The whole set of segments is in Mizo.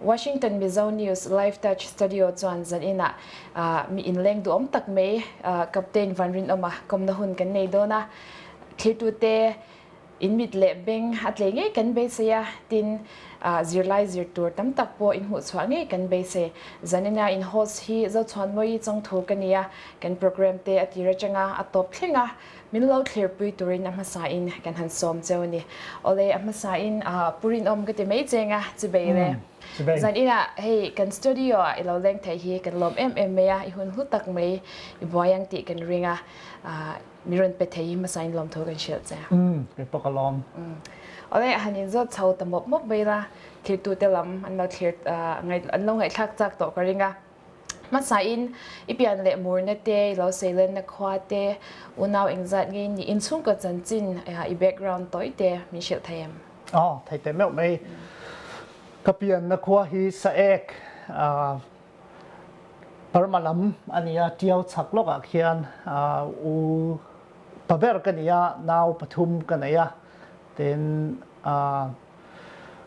Washington Mizo News, Live Touch Studio chuan zan inah mi inleng duhawm tak mai Captain Vanrinawma kawmna hun kan nei dawn a, thirtute in mit leh beng a tlei ngei kan beisei a, tin zirlai zir tur tam tak pawh in hmuhchhuah ngei kan beisei. Zan ina in host hi Zochhuanmawii Chawngthur ka nia, kan programme te a tir atanga a tawp thleng a, Min lo thlirpui turin a hmasa in kan han sawm che u ni. Awle, a hmasa in pu rinawm ka ti mai cheng a, chu bei le. Zan in ah hei kan studio ah i lo leng theih hi kan lawm em em mai a, i hun hlu tak mai, i buai ang tih kan ring a, min rawn pe thei hi hmasa in lawmthu kan hrilh che a. Umm, kei pawh ka lawm. Awle, a han in zawt chho ta mawp mawp mai la, thlirtu te lam an lo thlir, an lo ngaihthlak chak tawh ka ring a. Hmasain i pian leh murna te, i lo seilenna khua te, unau engzat nge in nih? In chhungkaw chanchin i background tawi te min hrilh thei em? Aw, thei teh meuh mai. Ka pianna khua hi Saek, Burma lam a ni a, tiau chak lawk ah khian u pa ber ka ni a, nau pathum ka nei a, tin.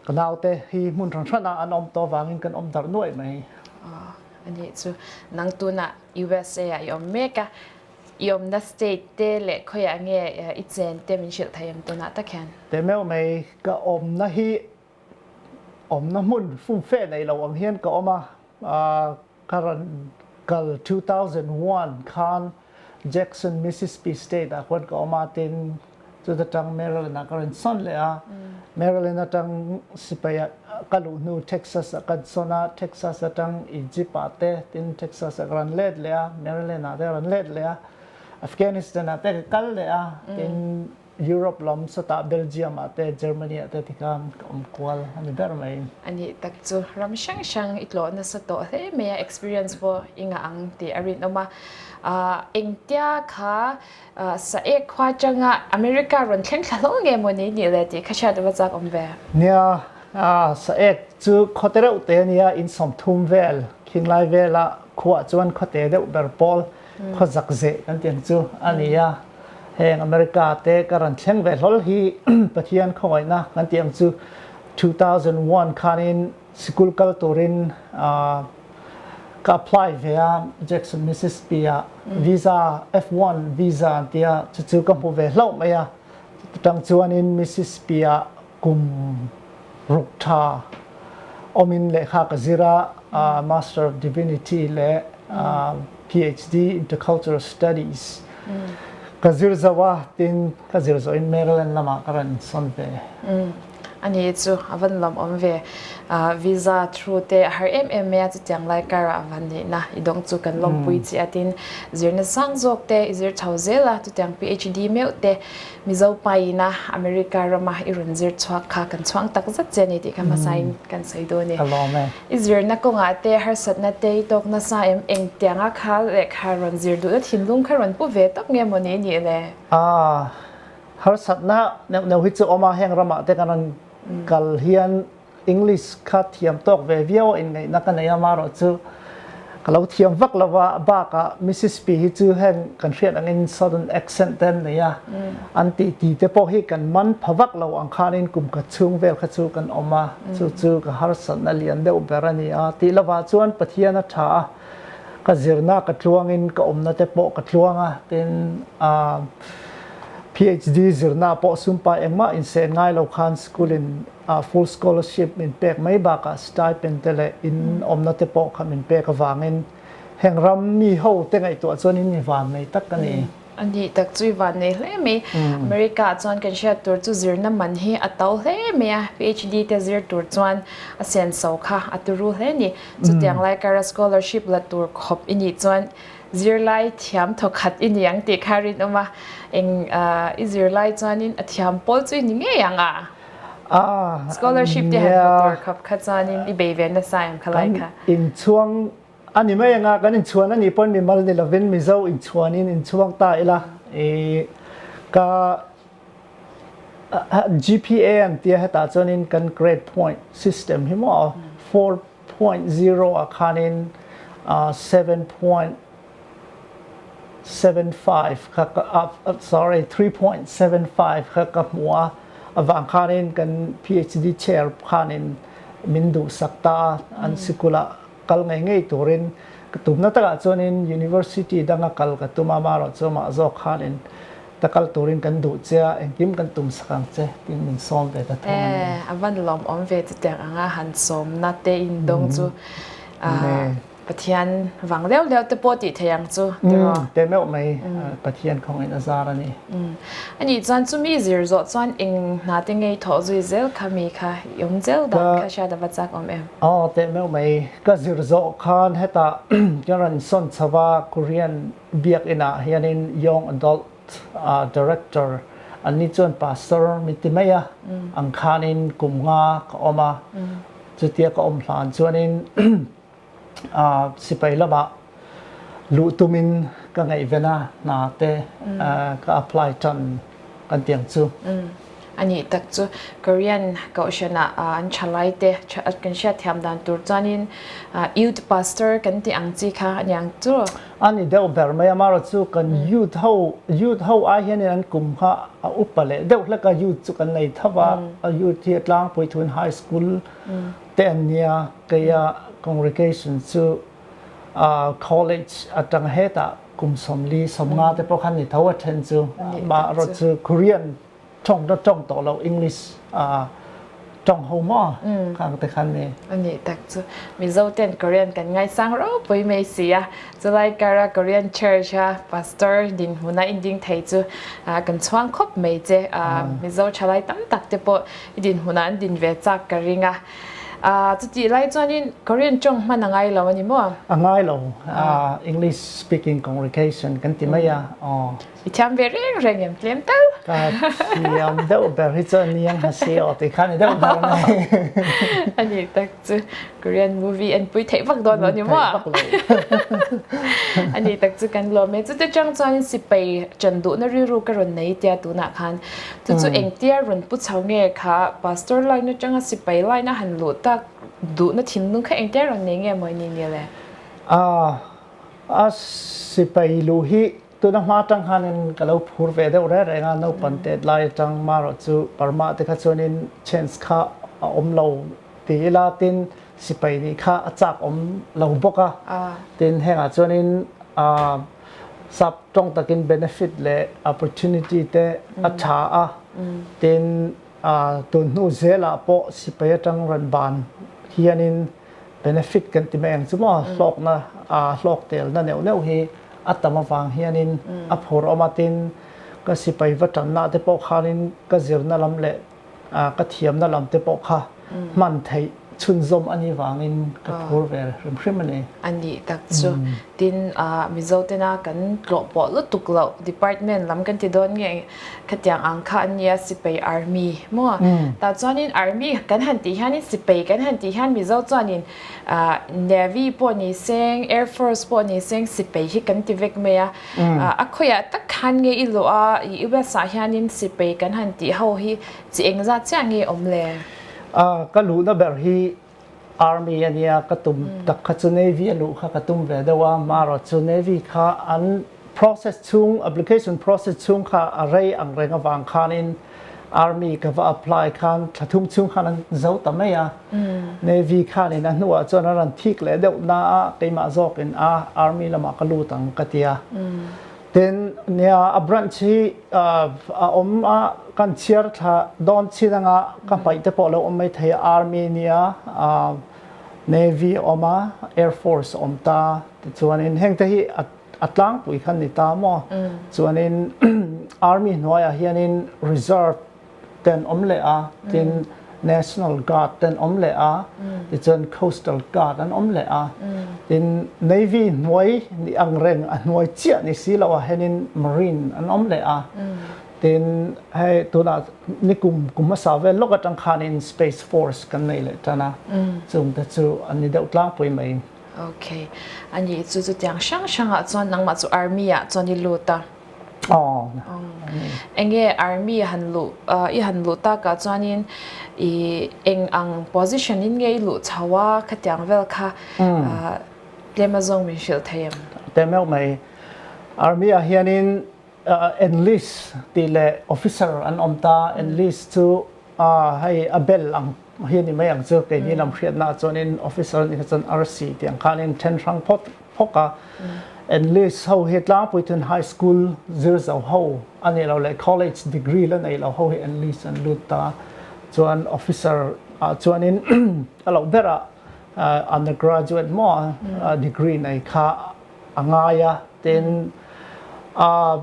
Ka naute hi hmun hran hranah an awm tawh avangin kan awm darh nuaih mai. Aw, a nih chu. Nang tunah USA-ah i awm mek a, i awmna state te leh khawiah nge i chen te min hrilh thei em tunah tak hian? Te meuh mai. Ka awmna hi awmna hmun fumfe nei lo ang hian ka awm a. ka rawn kal two thousand one khan Jackson Mississippi state ah khuan ka awm a tin chuta tang Maryland ah ka rawn sawn leh a Maryland atang sipai ah ka luh hnu Texas ah kan sawn a Texas atang Egypt ah te tin Texas ah ka rawn let leh a Maryland ah te ka rawn let leh a Afghanistan ah te ka kal leh a tin Europe lam sata Belgium ah te Germany ah te ti khan ka awm kual a ni ber mai. A nih tak chu ram hrang hrang i tlawh nasa tawh hle mai a experience pawh i ngah ang tih a rinawm a. Ahh engtia kha sa ek khua tanga America rawn thleng thla hlawl nge maw ni nih le tih kha hriat ava chak awm ve. Nia ahh sa ek chu khawte reuh te a nia insawmthum vel khinglai vel a khuah chuan khawte deuh ber pawl. khaw zak zeh kan tih ang chu a ni a, heng America te ka rawn thleng ve hlawl hi Pathian khawngawihna kan tih ang chu two thousand one khanin sikul kal turin ka apply ve a Jackson Mississippi ah visa F one visa an tia chu chu ka hmu ve hlauh mai a chutang chuanin Mississippi ah Kum ruk tha awmin lehkha ka zir a, Master of Divinity leh PhD Intercultural Studies ka zir zauh a, tin ka zir zawhin Maryland lamah ka rawn insawn ve. A ni chu a van lawm awm ve. Visa through te a har em em mai a, chutiang lai kara a van neihna i dawng chu kan lawmpui chiah a, tin zirna sang zawk te i zir tho zel a, chutiang PhD meuh te. Mizo paina America rama i rawn zir chhuak kha kan chhuang tak zet che a ni tih kha hmasa in kan sawi dawn e. I zirna kawngah te, harsatna te, i tawk nasa em engtianga kha lehkha rawn zir duhna thinlung kha rawn pu ve tawp nge maw ni i nih le? Aa, harsatna neuh neuh hi chu awm a, heng ramah te kan rawn kal hian English kha thiam tawk ve viau in ngaihna ka nei a, mah rawh chu ka lo thiam vak lo a, a bakah Mississippi hi chu heng kan hriat angin southern accent te an nei a, an tih ti te pawh hi kan man pha vak lo ang khanin kum khat chhung vel kha chu kan awm a, chu chu ka harsatna lian deuh ber a ni a, tih lovah chuan Pathian a tha a, ka zirna ka tluangin ka awmna te pawh ka tluang a, tin aah PHD zirna pawh sumpa engmah insen ngai lo khan school in Full scholarship min pek mai bakah stipend te leh in awmna te pawh kha min pek avangin heng ram mi ho te ngaihtuah chuan in van nei tak a ni. A nih tak chu i van nei hle mai. America ah chuan kan hriat tur chu zirna man hi a to hle mai a, PHD te zir tur chuan a senso kha a tu ru hle a ni. Chutiang lai kara scholarship la tur khawp i nih chuan zirlai thiam thaw khat i ni ang tih kha a rinawm a, eng i zirlai chuanin a thiam pawl chu i ni ngei ang a. Scholarship te han hmu tur khap kha chuanin i bei ve nasa em kha lai kha. Kan inchhuang a ni mai anga kan inchhuan a nih pawn mimal ni lovin Mizo inchhuanin inchhuang ta ila i ka GPA an tia hetah chuanin kan grade point system hi maw four Point zero ah khanin seven point seven five kha sorry three point seven five kha ka hmu a, avang khanin kan PHD chair khanin min duhsak ta an sikul ah kal ngei ngei turin ka tumna takah chuanin University danga kal ka tum a, marawh chu mah zawk khanin Ka kalh turin kan duh che a, engkim kan tum sak ang che tiin min sawm ve ta thung a ni. A van lawm awm ve ta teng ang a, han sawmna te in dawng chu Pathian vang leuh leuh te pawh tih theih ang chu tiraw? Te meuh mai, Pathian kawngin a zar a ni. A nih chuan chumi zir zawh chuan eng hna te ngei thawh zui zel kha mi kha i awm zel dan kha hriat a va chak awm em? Aw, te meuh mai. Ka zir zawh khan hetah ka rawn sawn chho va, Korean. Biakinn ah hianin young adult director an ni chuan pastor mi ti mai a, ang khanin kum nga ka awm a, chutia ka awm hlan chuanin sipai lamah luh tumin ka ngaihven a hna te ka apply tan. kan tih ang chu. Umm, a nih tak chu. Korean kohhranah an tha lai te, kan hriat thiam dan tur chuanin youth pastor kan tih ang chi kha a ni ang chu. A ni deuh ber mai a, amarawh chu kan youth ho, youth ho ai hianin an kum kha a upa leh deuh hlek a, youth chu kan nei thap a, a youth hi a Tlangpuithun High School te an nia, kei a congregation chu. College atang hetah kum sawmli, sawmnga te pawh khan ni tho a then chu. Mah rawt chu Korean tawng ta tawng tawh loh English tawng ho maw kang te khan ni. A nih tak chu. Mizo ten Korean kan ngaisang ropui mai si a. Chulai kar a Korean church a pastor dinhmun a i ding thei chu kan chhuang khawp mai che. Mizo thalai tam tak te pawh i dinhmunah an din ve chak ka ring a. Ahh, chutih lai chuanin Korean tawng hman a ngai lo a ni maw? A ngai lo, ahh, English speaking congregation kan ti mai a, aww. I thiam ve reng reng em, tlem tal. Ka thiam deuh ber hi chuan ni ang hasi aw tih khan i deuh ber mai. A nih tak chu, Korean movie en pui theih vak dawn lo a ni maw? Theih vak lo. A nih tak chu kan lawm e. Chute chang chuanin sipai ṭan duhna rilru ka rawn nei tia tunah khan Chu chu engtia rawn pu chho nge kha pastor line atanga sipai line a han luh tak duhna thinlung kha engtia rawn nei nge maw i nih nge le? Aaa a sipai luh hi tuna hma atang khanin ka lo phur ve deuh reng reng a, naupan tet lai atang mah erawh chu parmah te kha chuanin chance kha a awm lo ti ila tin sipai nih kha a chak awm lo bawk a, tin hengah chuanin aa. sap tawng takin benefit leh opportunity te a tha a, tin tun hnu zel ah pawh sipai atang rawn ban hian in benefit kan ti mai ang chu maw, hlawkna hlawk tel na neuh neuh hi a tam avang hian in a phur awm a, tin ka sipai va tanna te pawh khan in ka zirna lam leh. Ka thiamna lam te pawh kha hman theih chhunzawm a nih vangin ka phur ve hrim hrim a ni. A nih tak chu. Tin, Mizo tena kan tlawh pawh lutuk loh department lam kan ti dawn nge khatiang ang kha an nia Sipei Army maw? Tah chuanin Army kan han tih hianin Sipei kan han tih hian Mizo chuanin Navy pawh ni seng, Air Force pawh ni seng Sipei hi kan ti vek mai a. A khawiah tak khan nge i lawh a, i west ah hianin sipei kan han tih ho hi chi eng zat chiah nge awm le? A, ka luhna ber hi Army a nia, ka tum tak kha chu Navy a luh kha ka tum ve deuh a, marawt chu Navy kha an process chhung, application process chhung kha a rei ang reng avang khanin Army ka va apply khan thla thum chhung khan an zo ta mai a, Navy khan in a hnuah chuan a rawn thik leh deuh na a, keimah zawk in a Army lamah ka lut ang ka ti a. Tin, nia a branch hi a awm a, kan chhiar thla dawn chin anga ka hmaih te pawh lo awm mai thei a, Army a nia, Navy a awm a, Air Force a awm ta, tichuan in heng te hi a. A tlangpui khan ni ta maw? Chuanin Army hnuaiah hianin Reserve ten awm leh a, tin National Guard ten awm leh a, tichuan Coastal Guard an awm leh a, tin Navy hnuai ni ang reng a hnuai chiah ni si loh ah hianin Marine an awm leh a, tin hei tunah ni kum kum hmasa vel lawk atang khanin Space Force kan nei leh tan a, chungte chu an ni deuh tlangpui mai. Ok a nih chu chutiang hrang hrangah chuan nangmah chu army ah chuan i lut a. Aww. Enge army han luh i han luh takah chuanin ih eng ang position in nge i luh chho a khatiang vel kha tlema zawng min hrilh thei em? Tlem meuh mai. Army ah hianin Enlist tih leh officer an awm ta, enlist chu hei a bel ang hi a ni mai ang chu keini lam hriatnaah chuanin officer ni kha chuan RC tih ang khan in then hrang phawt phawk a, enlist ho hi Tlangpuiton High School zir zo ho a nih loh leh college degree la nei loh ho hi enlist an lut ta, chuan officer ah chuanin a loh berah under graduate maw degree nei kha a ngai a tin aah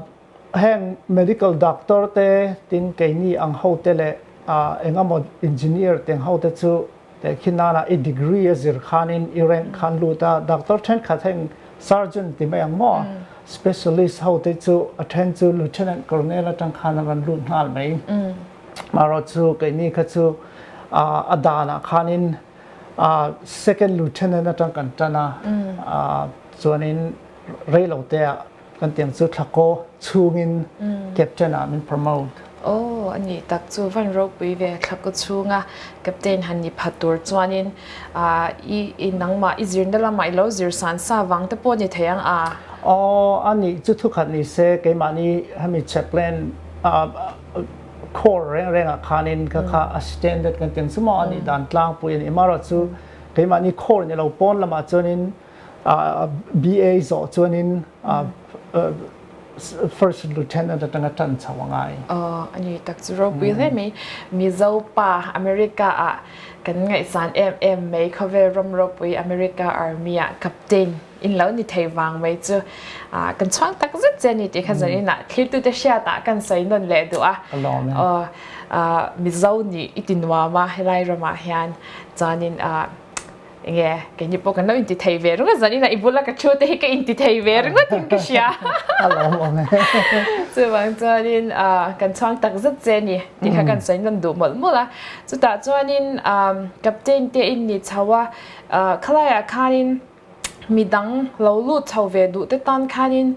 heng medical doctor te tin keini ang ho te leh aah engemaw engineer teng ho te chu teh khi nan ah i degree a zir khan in i rank khan lut a doctor thenkhat heng surgeon ti mai ang maw a specialist ho te chu a then chu lieutenant colonel atang khan an rawn lut nghal mai erawh chu keini kha chu aah a dan ah khan in Second Lieutenant atang kan tan a, chuanin reilo te ah kan tiang chu thlakaw chhungin Captain ah min promote. Aw, a nih tak chu van ropui ve thlakaw chhunga Captain han ni pha tur chuanin i nangmah i zirna lamah i lo zir san sa vang te pawh a ni thei ang a? Aw, a nih chu thukhat ni se, keimahni hemi Chaplain, Khawl reng rengah khanin ka kha a standard kan tih ang chu maw a nih dan tlangpui a nih marawh chu keimahni khawl in a lo pawn lamah chuanin BA zawh chuanin First Lieutenant atang a tan chho a ngai. Aww a ni tak chu ropui hle mai Mizo pa America ah kan ngaihsan em em mai khawvel ram ropui America Army ah Captain. In lo ni thei vang mai chu kan chhuang tak zet che ani tih kha zawrh in ah thiltu te hriat ah kan sawi nawn leh duh a. Mizo nih i ti nuam a helai ram ah hian chuan in eng nge kei ni pawh kan lo in ti thei ve ringawt zawrh in ah i bul a ka thu te hi ka in ti thei ve ringawt in ka hria chuvang chuan in kan chhuang tak zet che ani tih kha kan sawi nawn duh mawlh mawlh a. Chutah chuan in Captain te in ni chho a khalai ah khan in. mi dang lo lut chho ve duh te tan khanin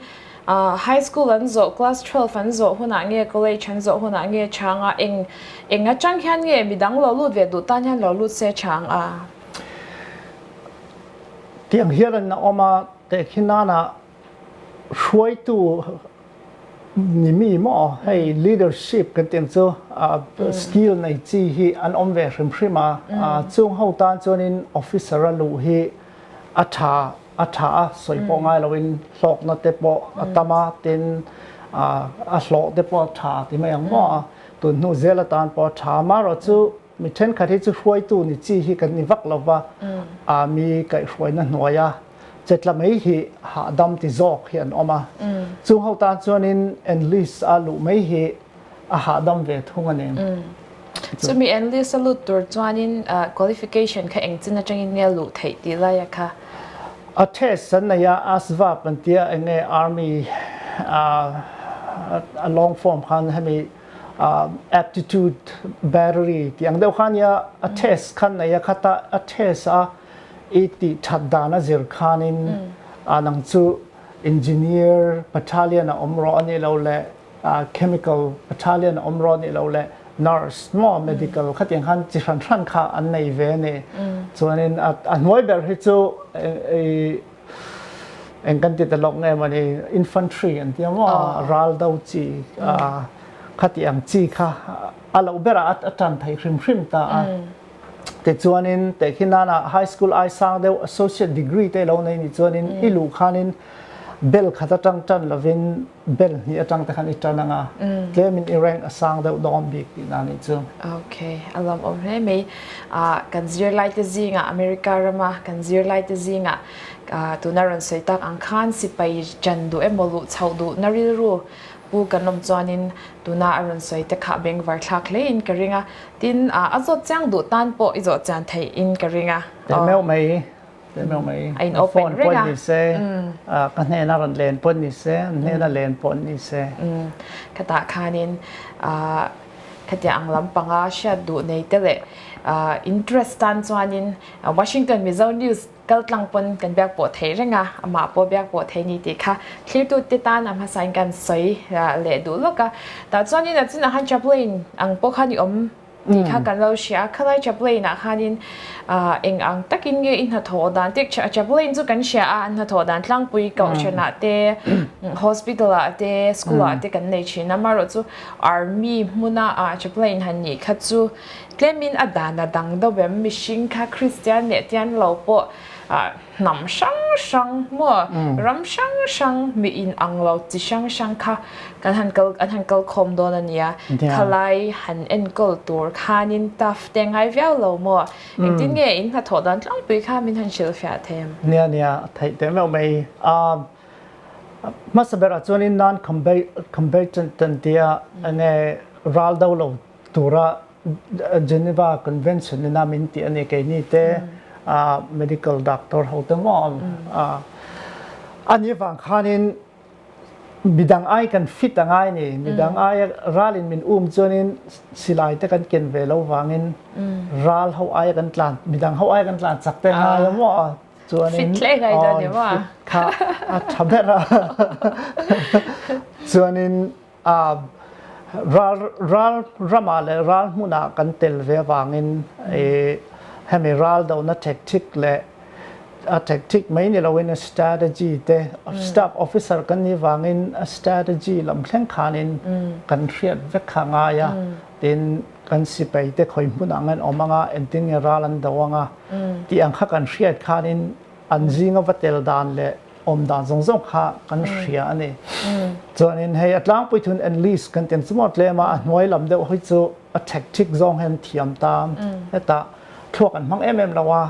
high school an zawh class twelve an zawh hunah nge college an zawh hunah nge tha ang a eng eng atang hian nge mi dang lo lut ve duh tan hian lo lut se tha ang a. Tiang hian rawn awm a tehkhi nana. hruaitu ni mi maw hei leadership kan tih ang chu skill nei chi hi an awm ve hrim hrim a, chung ho tan chuan in officer a luh hi a tha a tha a sawi pawh ngai lo in hlawk na te pawh a tam a tin a hlawh te pawh a tha ti mai ang maw a tunhnu zel atan pawh a tha a marawh chu Mi thenkhat hi chu hruaitu ni chi hi kan ni vak lo va, Army kaih hruaina hnuai a chetla mai hi hahdam ti zawk hi an awm a, chung ho tan chuanin enlist a luh mai hi a hahdam ve thung a ni. Chumi enlist a lut tur chuanin qualification kha engchin atangin nge a luh theih tih laia kha? A test an nei a, asvab an tia, enge Army a long form khan hemi Aptitude battery tih ang deuh kha nia a test khan nei a khat a, a test a i tih that dan a zir khanin an ang chu engineer battalion a awm rawh a nih loh leh chemical battalion a awm rawh a nih loh leh nurse maw medical khati ang khan chi hran hran kha an nei ve a ni chuanin a hnuai ber hi chu i Eng kan ti ta lawk nge mawni, infantry an tia maw, ral do chi khati ang chi kha a lo berah a tan thei hrim hrim ta a. Tichuanin teh khi nana high school ai sang deuh associate degree te lo nei ni chuanin i luh khanin bel khat atang tan lovin, Bel hnih atangte khan i tan ang a, tlemin i rank a sang deuh dawn bik tih na nih chu. Ok, a lamawm hle mai. Kan zirlaite zingah, America rama kan zirlaite zingah tuna a rawn sawi tak ang khan sipai ṭan duh emaw luh chhoh duh na rilru pu kan awm chuanin tuna a rawn sawi te kha bengvar thlak hlein ka ring a, tin a zawt chiang duh tan pawh i zawh chian theihin ka ring a. Tel meuh mai. a in open reng a ka hnena rawn len pawh ni se an hnena len pawh an ni se khatah khanin khatia ang lampang a hriat duh nei te leh interest tan chuanin washington mizo news kal tlang pawn kan biak pawh theih reng a amah pawh biak pawh theih ni tih kha thlir tu te tan a hmasa in kan sawi leh duh lawk a tah chuanin a chinah khan chaplain ang pawh kha ni awm. Tih kha kan lo hria a, khalai chaplain ah khanin eng ang takin nge i hnathawh dan tih chaplain chu kan hria a, an hnathawh dan tlangpui kohhran ah te, hospital ah te, school ah te kan nei thin a, maherawh chu army hmuna chaplain han nih kha chu tlemin a dan a dang deuh em, mihring kha kristian leh tian lo pawh hnam hrang hrang maw ram hrang hrang mi in ang lo chi hrang hrang kha kan han kal an han kal khawm dawn a nia khalai han enkawl tur khan in taf te a ngai viau lo maw engtin nge in hnathawh dan tlangpui kha min han hrilh fiah thèm. Nia nia a theih teh meuh mai a hmasa berah chuan in nan kham ber kham ber chan chan tia enge ral do lo tura Geneva Convention ina min tih a ni, keini te medical doctor ho te maw a nih vang khanin mi dang ai kan fit a ngai a ni, mi dang aia ral in min um chuanin silai te kan ken ve lo vangin ral ho aia kan tlan, mi dang ho aia kan tlan chak te ngai a maw chuanin fit kha a tha ber a chuanin Ral ramah leh ral hmunah kan tel ve avangin hemi ral dohna thekthik leh a thekthik mai ni loin strategy te staff officer kan nih vangin strategy lam thleng khanin kan hriat vek kha ngai a, tin kan sipai te khawi hmunah ang hian awm anga engtin nge ral an doh anga tih ang kha kan hriat khanin an zinga va tel dan leh. awm dan zawng zawng kha kan hria a ni. Chuanin hei a tlang puithun enlist kan tih ang chu maw tlem a, a hnuai lam deuh hi chu a tactic zawng hian thiam ta heta thluak an hmang em em lo a,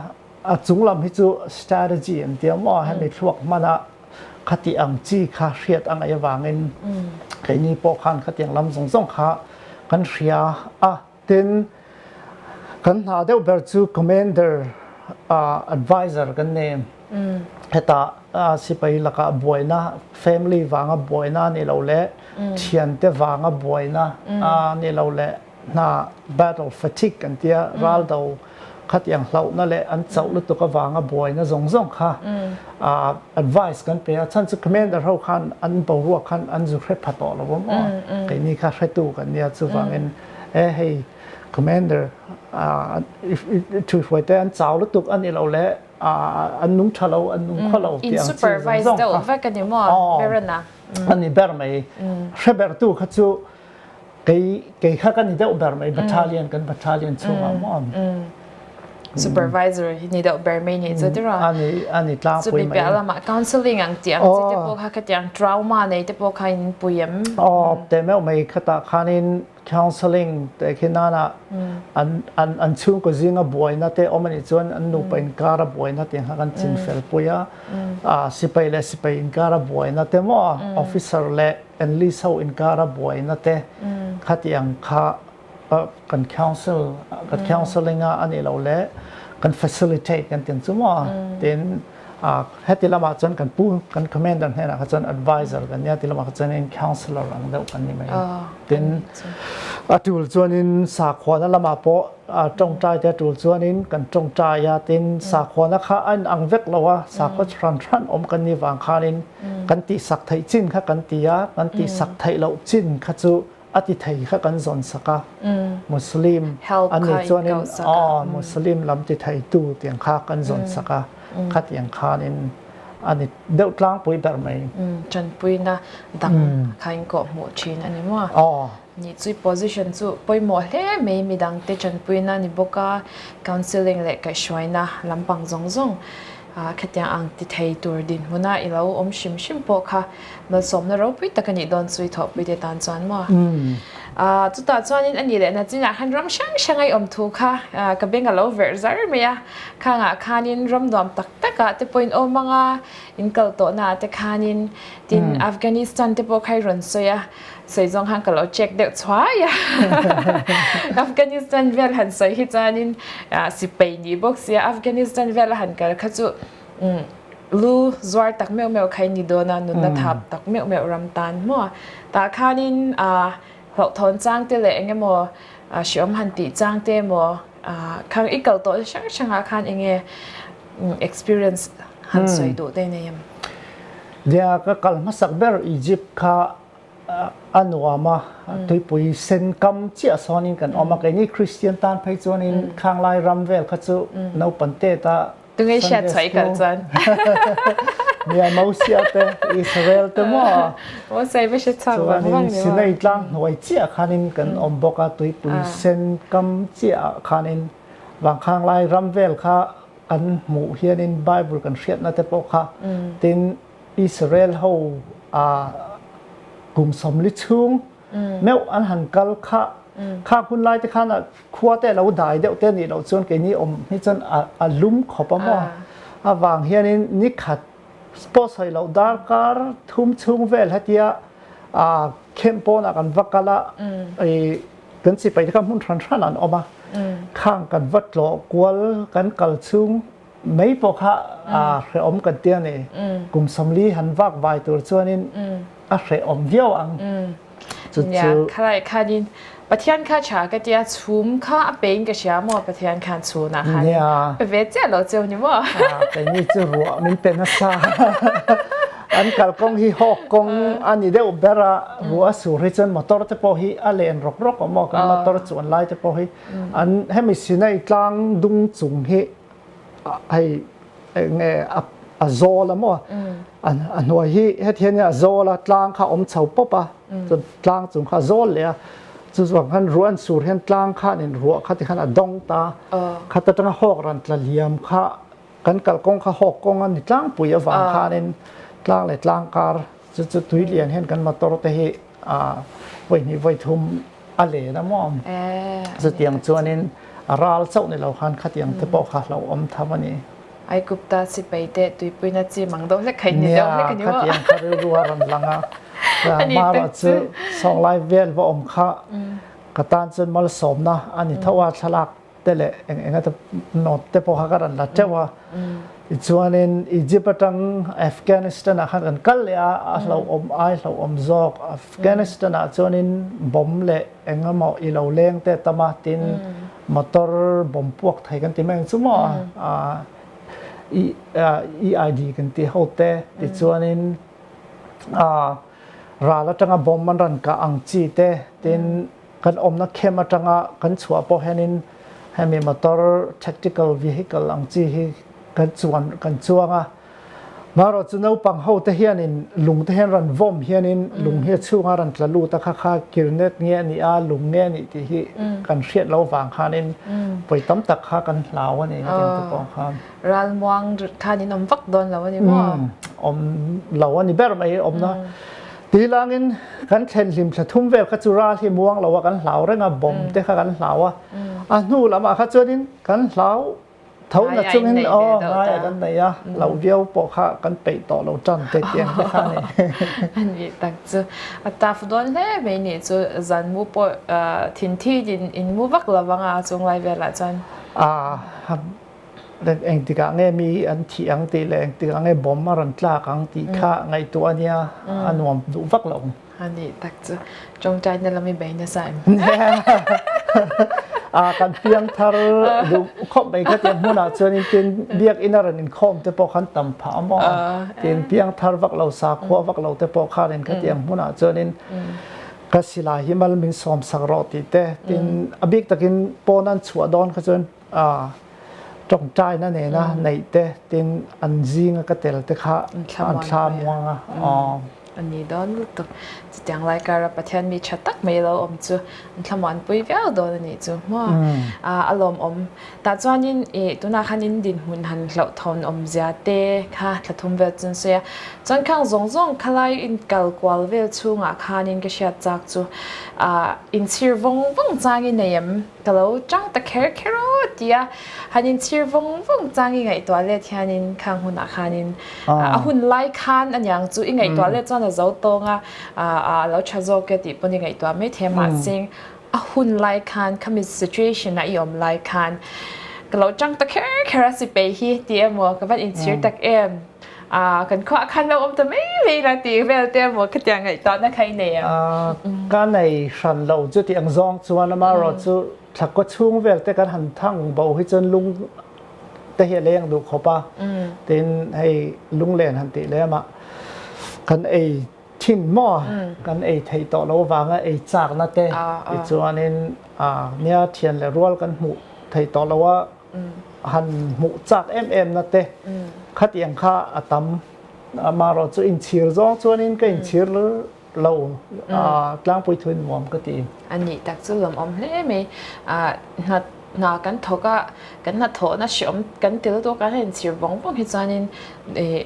a chung lam hi chu strategy an tia maw hemi thluak hmana khatih ang chi kha hriat a ngaih avangin keini pawh khan khatiang lam zawng zawng kha kan hria a. Tin, kan hna deuh ber chu Commander a advisor kan nei em? Heta sipai laka buaina, family vanga buaina a nih loh leh thiante vanga buaina a nih loh leh hna battle fatigue kan tia, ral do, khatiang hlauhna leh an chauh lutuk avanga buaina zawng zawng kha advice kan pe a, chhan chu commander ho khan an boruak khan an zu hre pha tawh lo awm aw, keini kha hretu kan nia chuvangin e hei commander i thuihruai te an chau lutuk a ni lo leh an nung tha lo an nung khaw lo tih ang chi zawng zawng kha a ni ber mai hre ber tu kha chu. Kei kha ka ni deuh ber mai battalion kan battalion chhungah maw ang? Supervisor hi ni deuh ber mai nih chu tirah a ni a ni tlang pui mai chumi piah lamah counselling ang tih ang chi te pawh kha khatiang trauma nei te pawh kha in pui em? Aw te meuh mai khatah khanin counselling te khi nana an an an chhungkaw zinga buaina te awm anih chuan an nupa inkara buaina tih ang kha kan chin fel pui a sipai leh sipai inkara buaina te maw officer leh English ho inkara buaina te khati ang kha kan counsel, kan counselling a nih loh leh kan facilitate kan ti ang chu maw. Tin heti lamah chuan kan pu, kan commander hnenah kha chuan advisor kan nia, ti lamah kha chuan counsellor ang deuh kan ni mai. Tin a tul chuanin sakhuana lamah pawh tawngtai te tul chuanin kan tawngtai a, tin sakhuana kha a inang vek lo a, sakhaw hran hran awm kan nih vang khanin kan tih sak theih chin kha kan ti a, kan tih sak theih loh chin kha chu a ti thei kha kan zawn sak a, Muslim an nih chuan in aw Muslim lam ti thei tu ti ang kha kan zawn sak a, khati ang khan in a ni deuh tlangpui ber mai. Tanpuina dang kha in kawh hmuh thin a ni maw? Aw. Ni chu i position chu pawimawh hle mai midang te tanpuina a ni bawk a, counselling leh kaihhruaina lampang zawng zawng. Khatiang ang ti thei tur dinhmuna i lo awm hrim hrim pawh kha malsawmna ropui tak a nih dawn chu i thawhpui teh tan chuan maw? Aah, chutah chuanin a nih leh na chingah khan ram hrang hranga i awm thu kha ka beng a lo verh zar mai a. Khangah khanin ram nuam tak takah te pawhin aw manga in kal tawhnaah te khanin tin Afghanistan te pawh kha i rawn sawi a. Sawi zawng khan ka lo check deuh chhuai a, Afghanistan vel han sawi hi chuanin sipei ni bawk sia, Afghanistan vel a han kal kha chu lu zuar tak meuh meuh kha i ni dawn a, nunna thap tak meuh meuh ram tan maw a, tah khanin hlauhthawn changte leh engemaw hriawm han tih changte emaw, Khang i kal tawh hrang hrangah khan enge experience han sawi duh daih nei em? Lia ka kal hmasak ber Egypt kha a nuam a, tuipui sen kam chiah sawn in kan awm a, keini Kristian tan phei chuan in Khanglai ram vel kha chu naupan teta, Tunge hriat chhuah i kal chuan. Ni a Mosia te Israel te maw? Mosia i va hre chhuak vang vang ni maw? Chuanin Sinai tlang hnuai chiah khanin kan awm bawk a, tuipui sen kam chiahah khanin vangkhanglai ram vel kha kan hmuh hianin Bible kan hriatna te pawh kha tin Israel ho kum sawmli chhung, meuh an han kal khah khak hun lai te khan khua te alo dai deuh te nih loh chuan keini awm hi chuan a lum khawp a maw avang hianin ni khat spot sawi loh dar kar thum chhung vel hetia camp pawn ah kan va kal a kan sipai te kha hmun hran hran an awm a khang kan va tlawh kual kan kal chhung Mei pawh kha aa hrehawm kan tia ni. Kum sawmli han vak vai tur chuanin a hrehawm viau ang. Chu chu. Khalaih khanin Pathian kha tha ka tia, chhum kha a peiin ka hria maw Pathian khan chhunah khan pe ve chiah lo cheu ni maw? Keini chu ruah min pe nasa. An kal kawng hi hawk kawng a ni deuh ber a, ruah a sur hi chuan motor te pawh hi a len rawk rawk awm aw, kan motor chuan lai te pawh hi. An hemi Sinai tlang dung chung hi hei enge a zawl a maw, a hnuai hi hethian hian a zawl a, tlang kha a awm chho pawp a, chuan tlang chung kha a zawl leh a, chu chuan khan ruah an sur hian tlang kha an inruah kha tikhan a dawng ta, khat atanga hawk ran tla hliam kha. Kan kal kawng kha hawk kawng a ni tlangpui avang khanin tlang leh tlangkar chu chu tui lian hian kan motor te hi vawinih vawi thum a len a maw chutiang chuanin a ral chauh ni lo khan khatiang te pawh kha hlo awm tham a ni. Ai Gupta si peite tuipuina chim ang deuh hlek khain ni deuh hlek a ni maw? Nia khatiang kha rilru a rawn lang a mahra chu sawng lai vel va awm kha ka tan chuan malsawmna a ni tho a thlalak te leh eng eng ate note te pawh kha ka rawn la teuh a, tichuanin Egypt atang Afghanistan ah khan kan kal leh a, a hlauhawm ai hlauhawm zawk, Afghanistan ah chuanin bomb leh eng emaw i lo leng te tam a, tin motor bomb puak thei kan tih mai ang chu maw a, EID kan tih ho te, tichuanin ral atanga bomb an rawn kah ang chi te, tin. Kan awmna camp atanga kan chhuah pawh hianin hemi motor tactical vehicle ang chi hi kan chuan kan chuang a. Marawh chu naupang hote hianin lung te hian ra'n vawm hianin lung hi a chhunga ra'n tla lut a kha kha kirnet nge a nih a, lung nge a nih tih hi kan hriat loh vang khanin pawi tam tak kha kan hlau a ni, a ding te pawh khan. Ral muang khan in awm vak dawn lo a ni maw? Umm, awm lo a ni ber mai a awmna. Tih lângin kan thlen hlim thla thum vel kha chu ral hi muang lo a kan hlau reng a, bawm te kha kan hlau a. A hnu lamah kha chuanin kan hlau tho nat chungin aw ngai a kan nei a, loh viau pawh kha kan peih tawh lo tan teh tih ang te kha a ni. A nih tak chu. A tough dawn hle mai a nih chu, zan mu pawh thinthit in in mu vak lo vang a a chunglai velah chuan. A Eng eng tikah nge mi hi an thih ang tih leh eng tikah nge bomb a rawn tlak ang tih kha ngaihtuah a nia, a nuam duh vak lo. A nih tak chu, tawngtaina lam i bei nasa em? A kan piang thar duh khawp mai kha tiang hmunah chuanin tin biakina rawn inkhawm te pawh khan tam phah a maw? Tin piang thar vak lo, sakhua vak lo te pawh khan in kha tiang hmunah chuanin ka silai hi mal min sawmsak rawh tih te, tin a bik takin pawn an chhuah dawn kha chuan A tawngtaina nena neih te tin an zinga ka tel te kha an thla muang a aww. A ni dawn lutuk. Chutiang Laikara Pathian mi tha tak mai a lo awm chu an thlamuah an pui viau dawn a nih chu hmaw. A a lawm awm tah chuanin i tunah khan in dinhmun han hlauhthawn awmzia te kha thla thum vel chu an sawi a. Chuan khang zawng zawng khalai in kal kual vel chhungah khanin ka hriat chak chu a in chhir vawng vawng changin nei em? Ka lo chang ta kher kher aw tia han in chhir vawng vawng chang i ngaihtuah let hian in khang hun ah khan in a hun lai khan aniang chu i ngaihtuah let chuan a zo tawng a a lo tha zawk e tih pawn i ngaihtuah mai thei mahse a hun lai khan khami situation ah i awm lai khan ka lo chang ta kher kher a si peih hi ti emaw ka van in chhir tak em. Aaa, kan khuaa khan lo awm ta mai mai ila tih vel te emaw khatiang ngaih tahna kha i nei ang. Aaa, ka nei hran lo chu tih ang zawng chuan ama erawh chu thlakkaw chhung vel te kan han thang bo hi chuan lung te hi a leng duh khawp a, tin hei lunglen han tih lem a kan ei thin maw kan ei theih tawh loh avanga ei chakna te tichuanin aa nia thian leh rual kan hmuh theih tawh loh a, han hmuh chak em em na te khatiang kha a tam. Amarawh chu inchhir zawng chuanin ka inchhir lo a, tlangpui thu in nuam ka ti. A nih tak chu lawm awm hle mai. Hnat hna kan thawk a, kan hna thawh na hre awm kan ti lutuk a, hei inchhir vawng vawng hi chuanin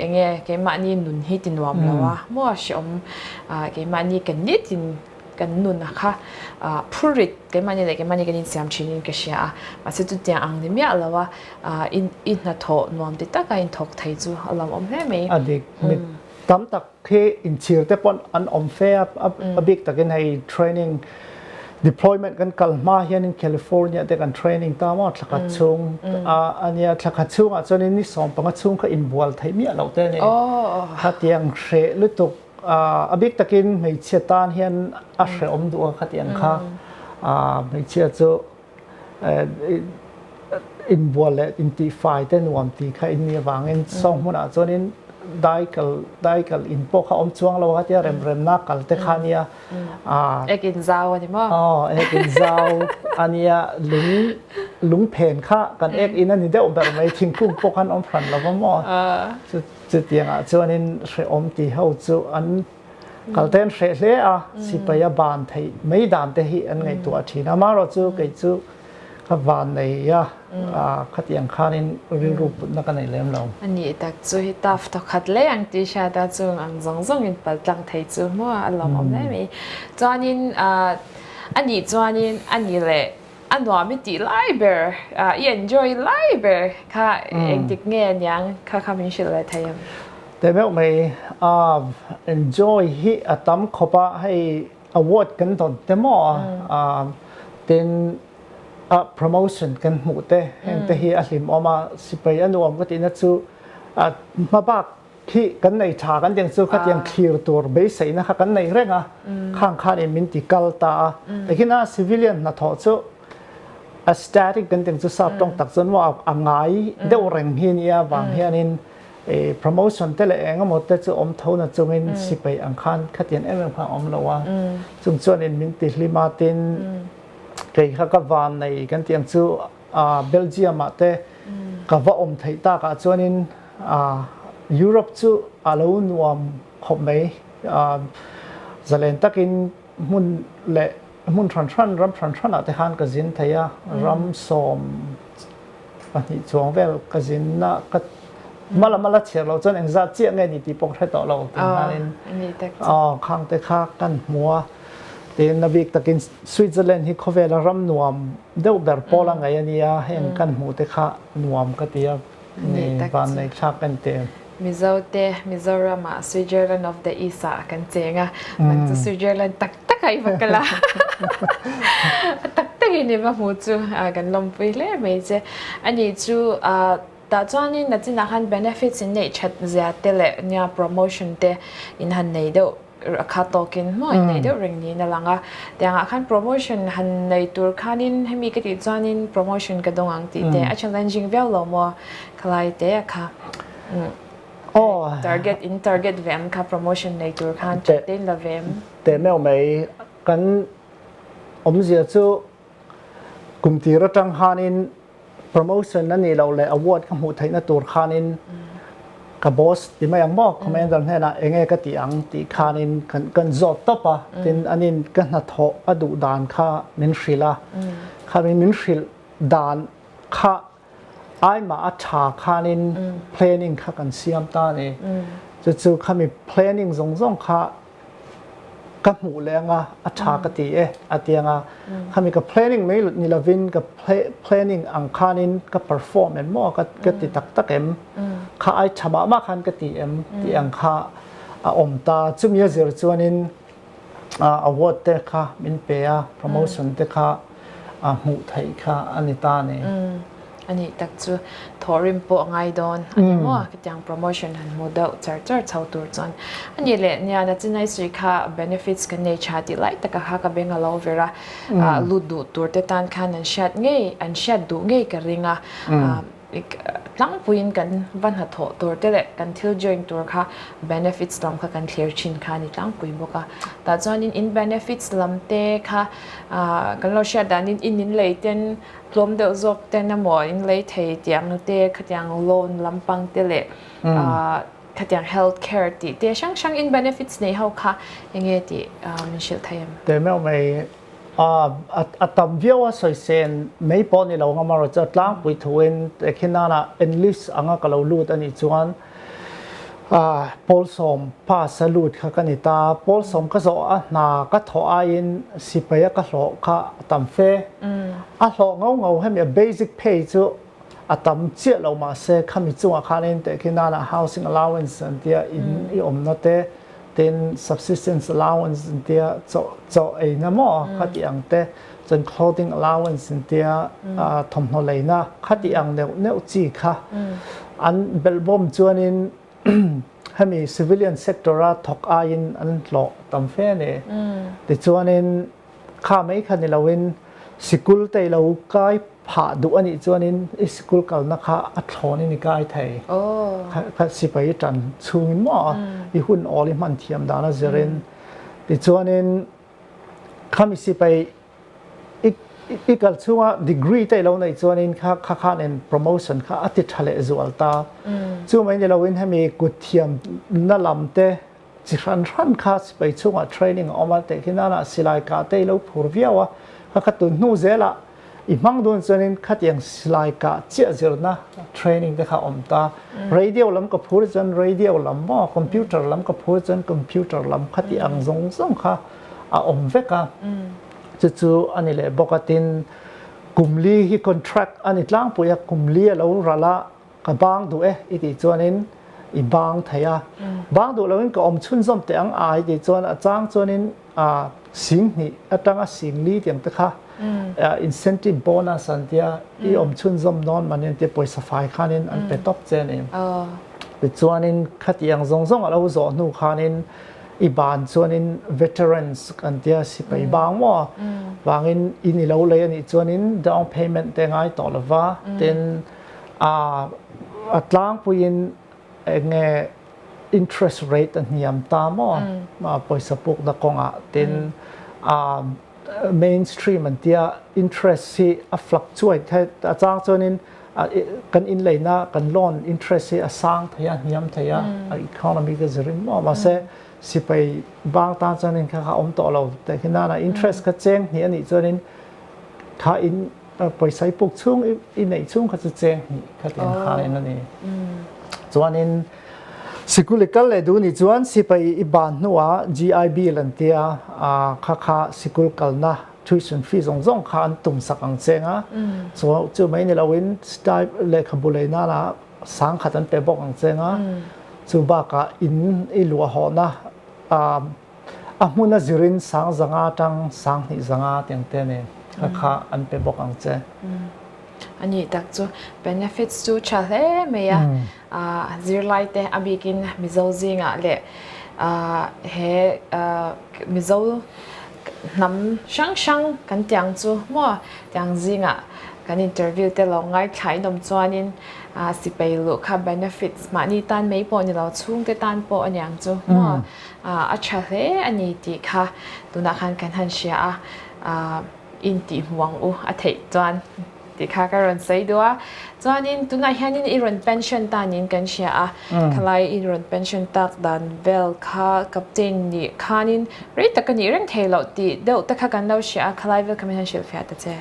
enge keimahni nun hi ti nuam lo a, maw hre awm, keimahni kan ni tin. Kan nun a kha phur rit keimahni leh keimahni kan insiam thinin ka hria a, mahse chutiang ang ni miah lo a i hnathawh nuam ti taka inthawk thei chu a lo awm hle mai. A dik, mi tam tak khi inchhir te pawh an awm fe a, a bik takin hei training deployment kan kal hma hianin California te kan training ta maw thla khat chhung a ania, thla khat chhungah chuan ni sawm panga chhung kha inbual theih miah loh te a ni, khatiang hreh lutuk. A bik takin hmeichhia tan hian a hrehawm duh a ka ti ang kha. Hmeichhia chu inbual leh intihfai te nuam ti kha inni avangin sawng hmunah chuanin dai kal dai kal in pawh kha awm chuang lo a tia remremna kalte kha nia. Ek in zau a ni maw? Aw ek in zau a nia. Lung lungphen kha kan ek in a ni deuh ber mai thingkung pawh khan awm hran lo va maw. Chutiangah chuanin hrehawm ti ho chu an kalte'n hreh hle a, sipai a ban theih mai dan te hi an ngaihtuah a thin a, amaherawh chu kei chu ka van nei a, khatiang khanin rilru putna ka nei lem lo. A nih tak chu hi taf thaw khat leh ang T-shirt a chung ang zawng zawngin pal tlang thei chu hmuaah a lawmawm hle mai. Chuanin a nih chuanin a ni leh. A nuam i tih lai ber, i enjoy lai ber kha engtik nge a niang kha kha min hrilh leh thei em? Te deuh mai, enjoy hi a tam khawp a, hei award kan dawn te maw tin promotion kan hmuh te heng te hi a hlim awm a, sipai a nuam ka tihna chu hma bak Thih kan nei tha kan tih ang chu khatiang thlir tur beiseihna kha kan nei reng a, khang khan in min ti kal ta a. Takin a civilian hnathawh chu aesthetic kan tih ang chu sap tawng tak chuan maw a ngai deuh reng hi nia vang hianin promotion te leh engemaw te chu awm tho na chungin si peih ang khan khatiang em em kha a awm lo a. Chung chuan in min ti hlim a tin kei kha ka va nei kan tih ang chu Belgium-ah te ka va awm theih takah chuanin Europe chu a lo nuam khawp mai. Zalen takin hmun leh hmun hran hran, ram hran hranah te khan ka zin thei a, ram sawm pahnih chuang vel ka zin a, ka hma lam a la chhiar loh chuan eng zat chiah nge ni tih pawh ka hre tawh lo tiin hianin khangte kha kan hmu a, tin a bik takin Switzerland hi khawvela ram nuam. Deuh ber pawl a ngaih a nia, heng kan hmuh te kha nuam ka ti a, vannei thlak en teh em? Mizo te Mizoram ah Switzerland of the East ah kan cheng a, man chu Switzerland tak tak a i va kal a, a tak tak in i va hmuh chu kan lawmpui hle mai che, ani chu. Tah chuanin a chinah khan benefits in neih that zia te leh nia promotion te in han nei deuh a kha tawkin hmaw in nei deuh reng niin a lang a, tiangah khan promotion han nei tur khanin hemi ka tih chuanin promotion ka dawng ang tih te a challenging viau lo maw khalai te a kha target in target ve ang kha promotion nei tur khan thattein la ve em? Teh meuh mai, kan awmzia chu Kum tir atang khanin promotion a nih loh leh award ka hmuh theihna tur khanin ka boss ti mai ang maw commander hnenah eng nge ka tih ang tih khanin kan zawt tawp a, tin an in ka hnathawh a duh dan kha min hrilh a, khanin min hrilh dan kha Ai mah a tha khanin planning kha kan siam ta a ni. Chu chu khami planning zawng zawng kha ka hmuh leh anga a tha ka ti e a ti anga khami ka planning mai ni lovin ka planning ang khanin ka perform em maw ka ka ti tak tak em kha ai tha mah mah khan ka ti em tih ang kha a awm ta. Chumi a zir chuanin. Award te kha min pe a, promotion te kha a hmuh theih kha a ni ta ni? A nih tak chu, thawh rim pawh a ngai dawn a ni maw? Khatiang promotion han hmu deuh char char chho tur chuan a ni leh nian a chinai sawi kha benefits kan nei tha tih lai taka kha ka beng a lo ver a, lut duh tur te tan khan an hriat ngei, an hriat duh ngei ka ring a. Tlangpuiin kan va hnathawh tur te leh kan thil join tur kha benefits lam kha kan thlir thin kha a ni tlangpui bawk a. Tah chuanin in benefits lam te kha kan lo hriat danin in in lei ten tlawm deuh zawk ten emaw, in lei thei tih ang te, khatiang loan lampang te leh khatiang health care tih te hrang hrang in benefits neih ho kha enge tih min hrilh thei em? Teh meuh mai. Aaa a tam viau a sawi se en mai pawh ni lo ngam a Roger tlangpui thuin te khi nana enlist anga ka lo lut a nih chuan aaa Paul sawm pass a lut kha ka ni ta Paul sawm ka zawh a hna ka thawh aiin sipai a ka hlawh kha a tam fe a hlawh ngau ngau hemi a basic pay chu A tam chiah lo mah se khami chungah khan a inteh khi nana housing allowance an tia in i awmna te, tin subsistence allowance an tia chawh chawh eina maw khatih ang te, chuan clothing allowance an tia thawmhnaw leina khatih ang neuh neuh chi kha an belh bawm chuanin hemi civilian sector a thawk aiin an hlawh tam fe a ni. Tichuanin. Kha mai kha ni loin sikul te ilo kai phah duh anih chuanin i sikul kalna kha a thlawn in i kai thei. Kha sipai i tan chungin maw i hun awl i hman thiam dan a zir in tichuanin kha mi sipai i kal chunga degree te ilo neih chuanin kha kha khanin promotion kha a ti tha leh zual ta. Chu mai ni loin hemi kut thiamna lam te. Chi hran hran kha sipai chhungah training a awm a, tehkhi nana silai kah te i lo phur viau a, ka kha tun hnu zela i hmang dawn chuanin khatiang silai kah chiah zirna training te kha a awm ta. Radio lam ka phur chuan radio lam maw, computer lam ka phur chuan computer lam khati ang zawng zawng kha a awm vek a, chu chu a ni leh bawk a, tin kum li hi contract a ni tlangpui a, kum li a lo ralh a, Ka bang duh e i tih chuanin i bang thei a, bang duh loin ka awm chhunzawm teh ang ai tih chuan a chang chuanin sing hnih atanga sing li tiang te kha incentive bonus an tia i awm chhunzawm dawn mah nen tia pawisa fai khanin an pe tawp che nen tichuanin khati ang zawng zawng a lo zawh hnu khanin i ban chuanin veterans kan tia sipai bang maw vangin in i lo lei a nih chuanin down payment te a ngai tawh lova tin A a tlangpuiin enge interest rate a hniam ta maw pawisa pukna kawngah tin a main stream an tia interest hi a fluctuate kha a chang chuanin kan inneihna kan loan interest hi a sang thei a a hniam thei a a economy ka zir ringmaw a mahse sipai bang tan chuan heng kha kha awm tawh lo tehkhi nana interest kha cheng hnih anih chuanin kha in Pawisa i puk chhung, i neih chhung kha chu cheng hnih kha ti hang in a ni. Chuanin sikul i kal leh duh ni chuan sipa i ban hnuah GI Bill an tia kha kha sikul kalna tuition fee zawng zawng kha an tum sak ang cheng a. Chu chu mai ni loin lehkhabu lei nana sang khat an pe bawk ang cheng a. Chu bakah in i luah hawhna. A hmun a zirin sang zanga tang, sang hnih zanga teng te nen a kha an pe bawk ang che. A nih tak chu benefits chu tha hle mai a, zirlai te a bik in Mizo zingah leh he Mizo hnam hrang hrang kan tih ang chu maw tiang zingah kan interview te lo ngaithlai nawm chuan in sipei luh kha benefits mahni tan mai pawh ni lo chhung te tan pawh a niang chu maw. A tha hle a ni tih kha tunah khan kan han hria a, intihhmuh ang u a theih chuan tih kha ka rawn sawi duh a. Chuanin tunah hianin i rawn pension tanin kan hria a, khalai i rawn pension tak dan vel kha captain nih khanin rei tak a nih reng thei loh tih deuh te kha kan lo hria a, khalai vel kha min han hrilhfiah ta che.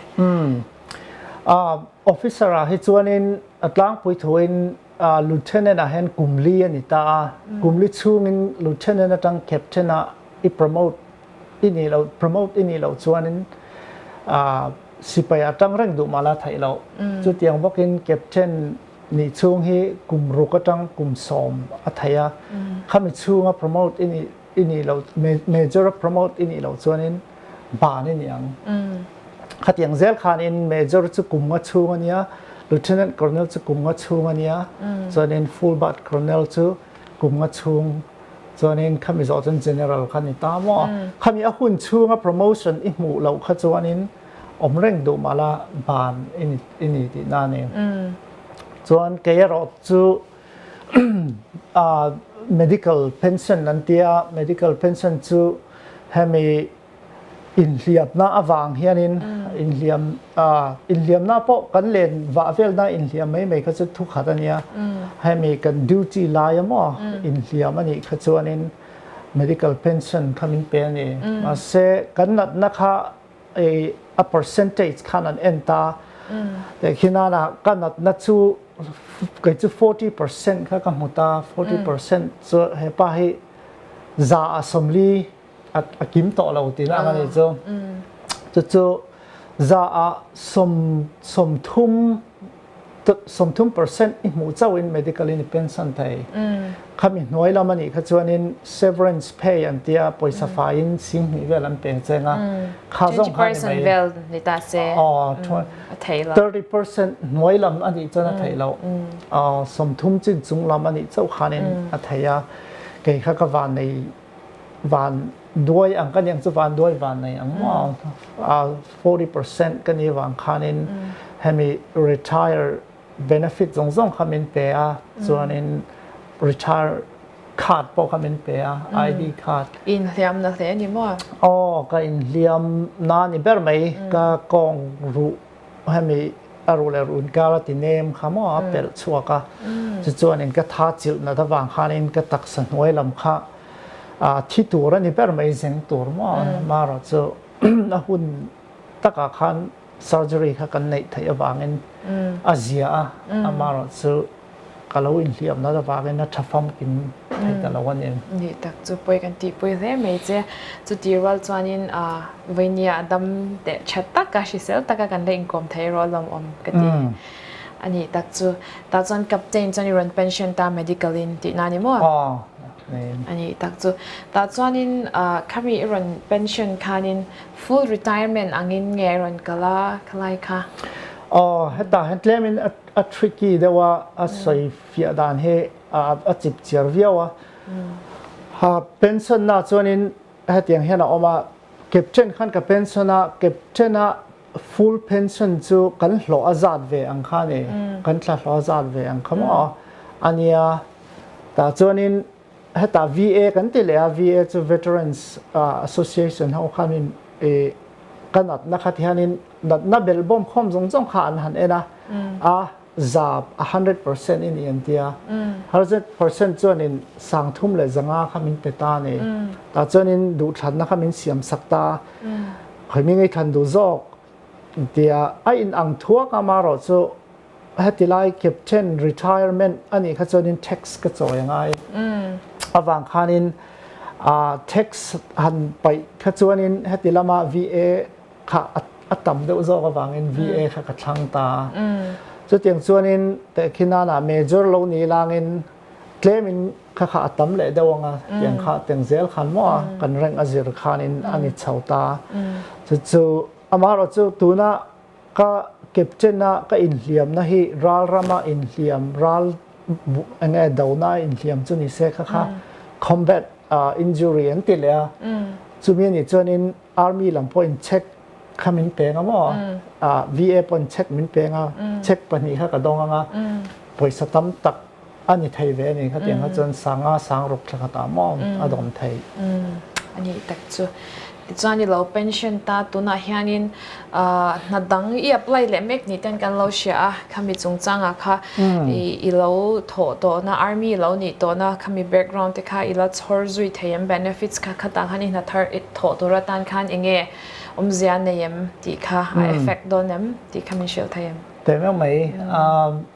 Officer-a hi chuanin a tlangpui thuin Lieutenant ah hian kum li a ni ta a, kum li chhungin Lieutenant atang Captain ah i promote i nih loh, promote i nih loh chuanin Sipai atang reng duh mah la theih loh. Chutiang bawkin Captain nih chhung hi kum ruk atang kum sawm a theih a, khami chhunga promote i nih I nih lo, Major a promote i nih lo chuanin ban i ni ang. Khatiang zel khanin Major chu kum nga chhung a nia, Lieutenant Colonel chu kum nga chhung a nia, chuanin Full Bat Colonel chu kum nga chhung, chuanin khami zawh chuan General kha a ni ta maw? Khami a hun chhunga promotion i hmuh loh kha chuanin awm reng duh mah la, ban i ni tih na a ni. Chuan kei erawh chu Medical pension an ti a, medical pension chu hemi inhliapna avang hianin inhliam inhliamna pawh kan len vah velna inhliam mai mai kha chu thukhat a nia, hemi kan duty laia maw inhliam a nih kha chuanin medical pension kha min pe a ni, mahse kan natna kha Ei a percentage khan an en ta a, kei khi nana ka natna chu kei chu forty percent kha ka hmu ta, forty percent chu hepa hi za a sawmli a kim tawh lo tih ang a nih chu, chu chu za a sawm sawm thum, Sawmthum percent i hmuh chauh in medical in i pension thei. Khami hnuai lam anih kha chuan in severance pay an tia, pawisa fai in sing hnih vel an peng cheng a. Kha zawng kha ani mai. Twenty percent vel ni ta se a thei lo. Thirty percent hnuai lam anih chuan a thei lo. Sawmthum chin chung lam anih chauh khan in a thei a. Kei kha ka van nei. van duai ang ka ni ang chu van duai van nei ang maw forty percent ka nih vang khanin hemi retire benefit zawng zawng kha min pe a chuanin retire card pawh kha min pe a ID card inhliam na hle a ni maw aw ka inhliam na a ni ber mai ka kawng ruh Hemi aru leh run kar a ti nem kha maw a pelh chhuak a, chu chuan in ka tha chilh nat avang khan in ka taksa hnuai lam kha a thi tur a ni ber mai zeng tur maw a ma erawh chu a hun tak ah khan surgery kha kan neih theih avang in a zia a, a ma erawh chu. Ka lo inhliam na la vangin a tha fam in theih ta lo a ni. Nih tak chu pawi kan tih pui hle mai che. Chuti rual chuanin vawini-a a dam teh tha tak a, hrisel tak a kan la inkawm thei erawh a lawmawm ka ti. A nih tak chu. Tah chuan Captain chuan i rawn pension ta medical in tih na a ni maw? A nih tak chu. Tah chuanin khami i rawn pension khanin full retirement angin nge i rawn kal a khalai kha? Aw, hetah hian tlem in A tricky deuh a, a sawi fiah dan hi a chip chiar viau a. Pension na chuanin hetiang hian a awm a, captain khan ka pension a, captain a full pension chu kan hlawh a zat ve ang kha a ni, kan tla hlawh a zat ve ang kha maw a nia. Tah chuanin. Hetah VA kan ti leh a, VA chu Veterans Association ho khan in ka natna khat hianin natna bel bawm khawm zawng zawng kha an han en a, a za a hundred percent i ni an ti a, hundred percent chuanin sang thum leh za nga kha min pe ta a ni, tah chuanin duhthlanna kha min siam sak ta a, khawimi ngaihthlan duh zawk tia a inang thuak ang amaherawhchu Hetilai Captain Retirement a nih kha chuanin tax ka chawi a ngai. Avang khanin tax han paih kha chuanin heti lama VA kha a tam deuh zawk avangin VA kha ka thlang ta. Chutiang chuanin khi nana major lo ni lângin claim in kha kha a tam leh deuh ang a, tiang kha tiang zel khan maw a, kan rank a zir khanin a ni chho ta. Chu chu amaherawhchu tuna. Ka captain-a ka inhliamna hi ralrama inhliam, ral eng nge dona a inhliam chu ni se kha kha, combat injury an tih leh a, chumi a nih chuanin army lam pawh in check kha min peng a maw, VA pawh in check min peng a, check pahnih kha ka dawng ang a, pawisa tam tak. A ni thei ve a ni, khatiang kha chuan sanga sang ruk thla khat ah maw a dawm thei. A nih tak chu. Tichuan i lo pension ta tunah hianin hna dang i apply leh mek ni ten kan lo hria a, khami chungchangah kha i lo thawh tawhna, army i lo nih tawhna khami background te kha i la chhawr zui thei em, benefits kha khatah khan i hna thar thawh tur atan khan eng nge awmzia nei em tih kha a effect dawn em tih kha min hrilh thei em? Teh meuh mai.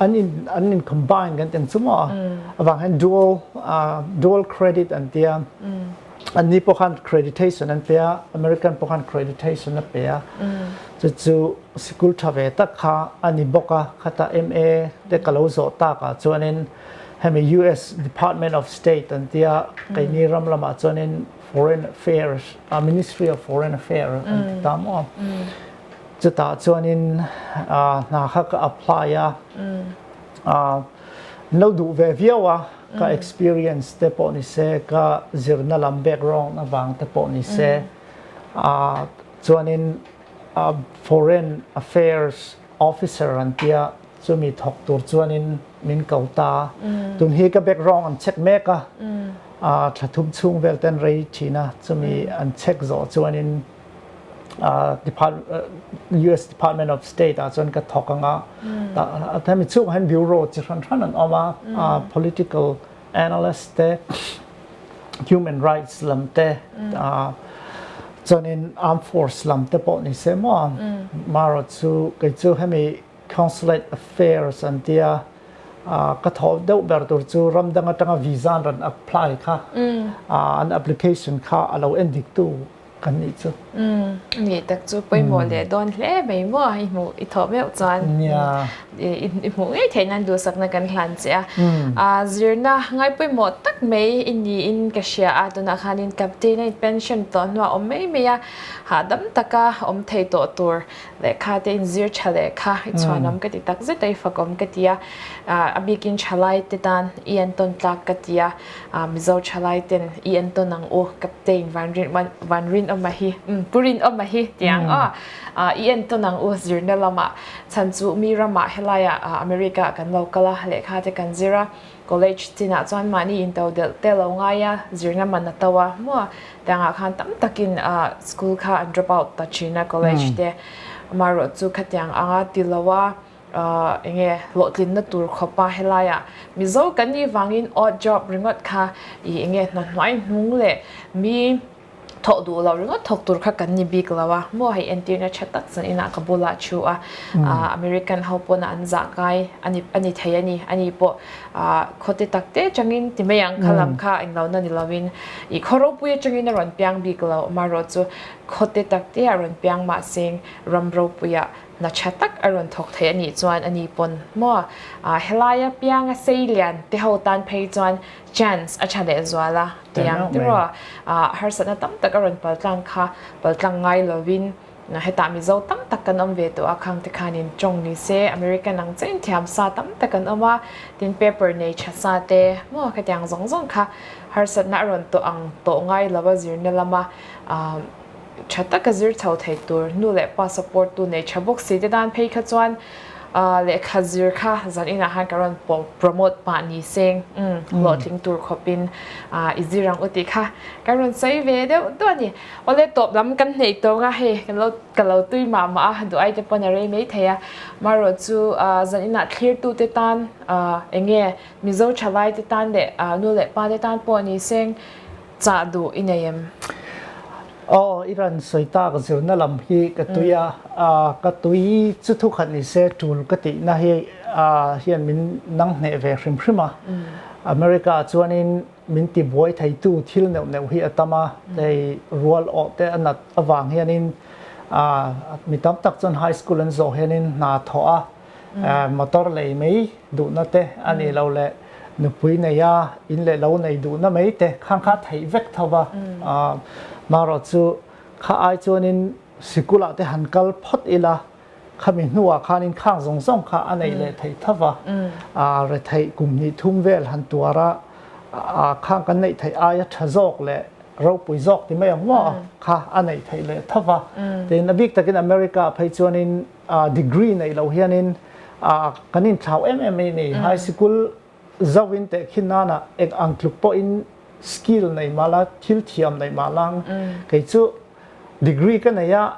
an in combine kan tih chu maw a avang hian dual dual credit an tia an ni pawh khan creditation an pe a American pawh khan creditation a pe a chu chu sikul tha ve tak kha a ni bawk a khata MA te ka lo zawh tak ah chuan in hemi US department of state an tia keini ram lam ah chuan in foreign affairs a ministry of foreign affairs an ti ta maw a. Chutah chuanin hna kha ka apply a, min lo duh ve viau a, ka experience te pawh ni se, ka zirna lam background avang te pawh ni se, chuanin foreign affairs officer an tia chumi thawk tur chuanin min ko ta a, tun hi ka background an check mek a, tha thum chhung vel te an rei thin a, chumi an check zawh chuanin US Department of State ah chuan ka thawk ang a, tah mi chhungah hian bureau chi hran hran an awm a, political analyst te, human rights lam te, chuanin armed force lam te pawh ni se maw a, Maro chu kei chu hemi consulate affairs an tia, ka thaw deuh ber tur chu ram dang atanga visa an rawn apply kha, an application kha a lo en dik tu Kan nih chu. Umm, i nih tak chu pawimawh leh dawn hle mai maw? I hmuh, i thawh meuh chuan. Nia. I hmuh ngei theih nan duhsakna kan hlan che a. Umm. Zirna ngai pawimawh tak mai i niin ka hria a, tunah khanin Captain-a in pension tawh hnu ah awm mai mai a, hahdam taka awm thei tawh tur lehkha te in zir tha leh kha i chhuanawm ka ti takzet a, i fakawm ka ti a, a bikin tha lai te tan i an tawn tlak ka ti a. A, Mizo tha lai ten i en tawn ang u, Captain Vanrin, Vanrin awmah hi, umm, Pu Rin awmah hi ti ang aw. A, i en tawn ang u zirna lamah, chhan chu mi ramah helai a, a, America ah kan lo kal a, lehkha te kan zir a, college chinah chuan mahni into delh te lo ngai a, zirna man a to a, hmu a, ti ang ah khan tam takin, a, school kha an drop out ta thin a, college te, amaherawhchu khatiang anga ti lo a. Ahh enge hlawhtlinna tur khawpa helaiah Mizo kanni vangin odd job ringawt kha ih enge hnathnuai hnung leh mi thawh duh lo ringawt thawk tur kha kan ni bik lo a, maw hei entirna tha tak chuan inah ka bula thu a, ahh American ho pawnah an zahkai ani a ni thei a ni, ani pawh ahh khawti takte changin ti mai ang kha lam kha eng lo na ni lovin ih khaw ropui atangin a rawn piang bik lo, amaherawhchu khawte takteah rawn piang mahseng ram ropuiah. Hna tha tak a rawn thawk theih a nih chuan a ni pawn maw? Aah, helaia pianga sei lian te ho tan phei chuan chance a tha leh zual a, tiang tiraw? Aah, harsatna tam tak a rawn pal tlang kha, pal tlang ngai lovin hetah Mizo tam tak kan awm ve tawh a, khang te khanin tawng ni se, American ang che in thiam sa tam tak an awm a, tin paper nei tha sa te maw khatiang zawng zawng kha harsatna a rawn tawh ang tawh ngai lo a zirna lama, aah. tha taka zir chho thei tur nu leh pa support tu nei tha bawk si te dan phei kha chuan lehkha zir kha zan inah khan ka rawn promote pah ni seng hlawhtling tur khawpin i zir ang u tih kha ka rawn sawi ve deuh duah a ni awle tawp lam kan hneih tawng a hei ka lo tui mah mah a duh ai te pawh a rei mai thei a maherawh chu zan inah thlir tu te tan enge mizo tha lai te tan leh nu leh pa te tan pawh ni seng Chah duh i nei em? Aw, i rawn sawi tak zirna lam hi ka tui a, ka tui chu thu khat ni se tul ka tihna hi hian min nang hneh ve hrim hrim a. America ah chuanin min ti buai theitu thil neuh neuh hi a tam a, hei rual awh te a nat avang hianin mi tam tak chuan high school an zawh hianin hna thawh a, Motor lei mai duhna te a nih loh leh nupui neia in leh lo nei duhna mai te khan kha theih vek tho va. Marawh chu kha ai chuanin Sikula te han kal phawt ila, khami hnuah khanin khang zawng zawng kha a neih leh theih tho va. Retheih kum hnih thum vel han tuar a, khang kan neih theih aia tha zawk leh ropui zawk ti mai ang maw kha a neih theih leh tho va. Tin a bik takin America phei chuanin. Degree neih loh hianin kan inthlau em em mai a ni. High Sikul zauh in teh khin nana eng ang tluk pawhin Skill nei mal a, thil thiam neih mal ang. Kei chu Degree ka nei a,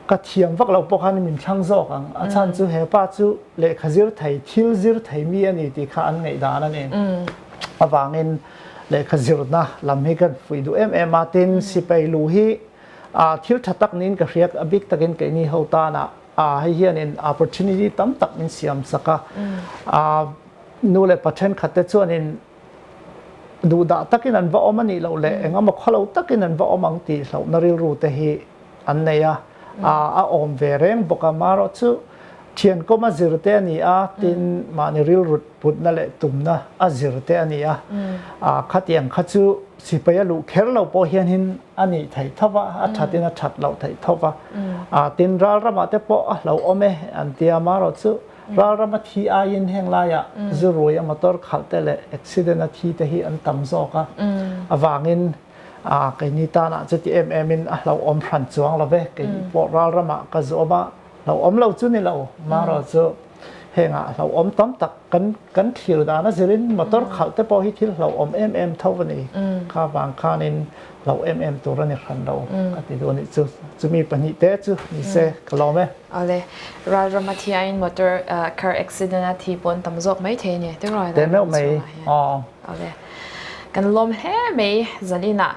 ka thiam vak loh pawh khan min thlang zawk ang. A chhan chu hepa chu lehkha zir thei, thil zir thei mi a ni tih kha an ngaih dan a ni. Avangin lehkha zirna lam hi ka fuih duh em em a. Tin Sipeilu hi A thil tha tak niin ka hriat a bik takin keini ho tana a hei hianin opportunity tam tak min siam sak a. A nu leh pa thenkhat te chuanin duhdah takin an va awm a nih loh leh engemaw khaw lo takin an va awm ang tih hlauhna rilru te hi an nei a. A awm ve reng bawk a. Marawh chu Thiankom a zirte a ni a, tin, mahni rilrut putna leh tumna a zirte a ni a. Khatiang kha chu sipai a luh kher lo pawh hianin a nih theih tho va, a thatin a that loh theih tho va. Tin, Ralramah te pawh a hlo awm e an ti a, amaherawh chu Ralrama thi aiin heng laia zu ruaia motor khalh te leh accident a thi te hi an tam zawk a, avangin keini tanah chu ti em emin a hlo awm hran chuang lo ve, keipawh Ralramah ka zawm a, Hlauhawm lo chu ni lo, maherawh chu hengah a hlauhawm tam tak kan kan thlir dan a zir in motor khalh te pawh hi thil hlauhawm em em tho a ni, kha avang khan in hlauh em em tur a ni hran lo ka ti duh a nih chu, chu mi pahnih te chu ni se ka lawm e. Awle, Ralram a thi aiin motor car accident a thi pawh an tam zawk mai thei a ni, tei rawh a Ralram chhungah hian, awle kan lawm hle mai zan inah.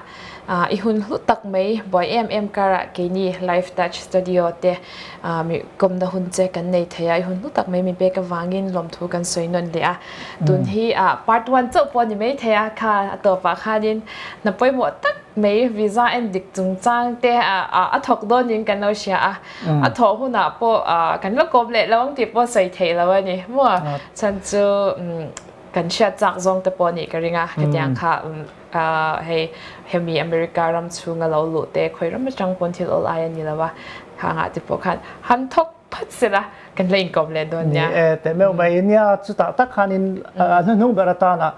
I hun hlu tak mai buai em em kara keini live touch studio te kawmna hun che kan nei thei a i hun hlu tak mai mi pek avangin lawmthu kan sawi nawn leh a tun hi part one chauh pawh a ni mai thei a kha a tawpah khanin hna pawimawh tak mai visa en dik chung chang te a thawk dawn in kan lo hria a a thawh hunah pawh kan va kawm leh lo ang tih pawh sawi theih lo a ni maw chhan chu kan hriat chak zawng te pawh a nih ka ring a hetiang kha. Aah hei hemi America ram chhunga lo luh te khawi ram atang pawn thil awl aia ni lo a, khangah te pawh khan han thawk phat sela kan la inkawm leh dawn nia. Ni e, teh meuh mai a nia, chutah tak khanin a hnuhnung ber atana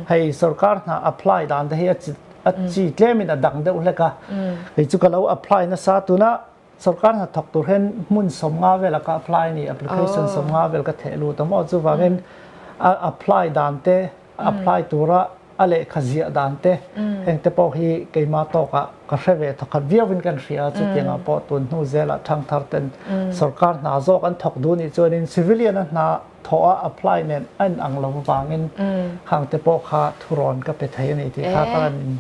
hei sorkar hna apply dan te hi a chi tlem in a dang deuh hlek a, kei chu ka lo apply nasa tuna. Sorkar hnathawk tur hian hmun sawm nga vela ka apply a ni, application sawm nga vel ka theh lut a maw, chuvang hian a apply dan te, a apply tura a lehkha ziah dan te heng te pawh hi keimah tawk ah ka hre ve thaw khat viau in ka hria a, chutiang ah pawh tun hnu zel ah thang thar ten sorkar hna zawk an thawk duh nih chuan in civilian a hna thawh a apply nen a in ang lo avang in hang te pawh kha thu rawn ka pe thei a ni tih kha ka rawn in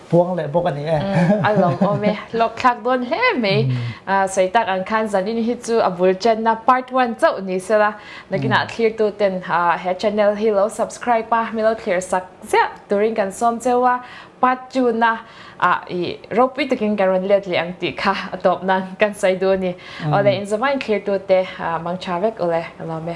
Puang leh bawk a ni e. Umm, a lo awm e. Hlawkthlak dawn hle mai. Sawitak ang khan zanin hi chu a bul chenna part one chauh ni se la, nakinah thlirtu ten he channel hi lo subscribe a, milo thlir sak ziah turin kan sawm cheu a, part two na ropui takin kan rawn let leh ang tih kha a tawp nan kan sawi duh a ni. Awle, in zomah in thlirtu te mangtha vek awle. Ka lawm e.